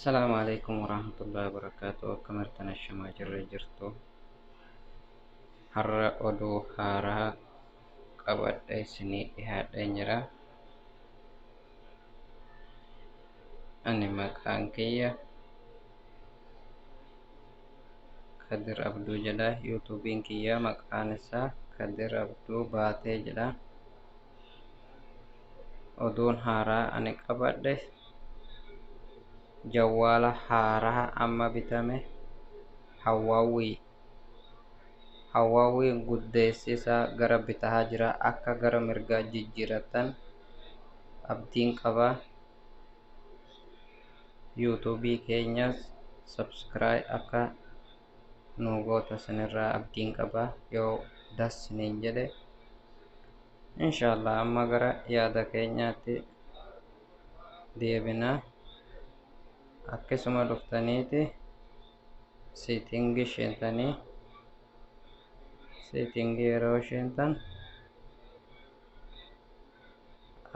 Salaamu alaikum warahmatullahi wabarakatuh akkam jirtan ashamaa jirre jirtu har'a oduu haaraa qabadhe isinii dhihaadhe jira ani maqaan kiyya kadir abduu jedha yuutuubiin kiyya maqaan isaa kadir abduu baatee jedha oduun haaraa ani qabadhe jawwaala haaraa amma bitame hawwaawwii hawwaawwii guddeessi isaa gara bitaa jira akka gara mirgaa jijjiiratan abdiin qaba yuutuubii keenyas sabskiraay akka nuu goota sinirraa abdiin qaba yoo das siniin jedhe inshaallah amma gara yaada keenyaatti deebina akkasuma dhuftaniiti seetingi isheentanii seetingi yeroo isheentan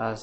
as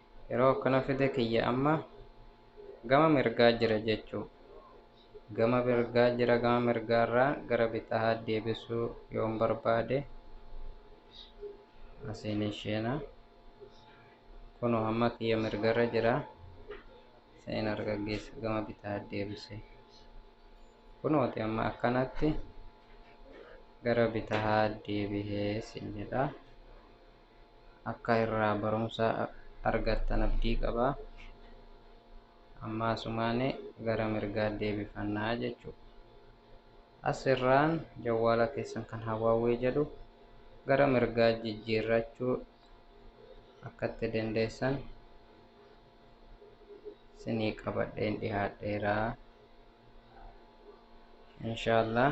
Yeroo akkana fide kiyya amma gama mirgaa jira jechuu. Gama mirgaa jira gama mirgaarraa gara bitahaa deebisuu yoon barbaade asiin isheena. Kunoo amma kiyya mirgarra jira. Seen argaggeessa gama bitaa deebise. Kunooti amma akkanatti gara bitahaa deebihee siin jedha. akka irraa barumsa argattan abdii qaba amma asumaane gara mirgaa deebifannaa jechuu as irraan jawwaala keessan kan hawaawwee jedhu gara mirgaa jijjiirrachuu akka itti dandeessan sinii qabadheen dhihaadheeraa inshaallah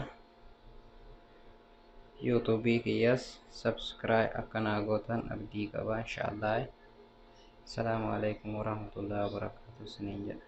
yuutuubii kiyyaas sabskiraay akka naa gootan abdii qaba inshaallah asalaamu alaikum warahmatullahi wabarakaatu isiniin jedha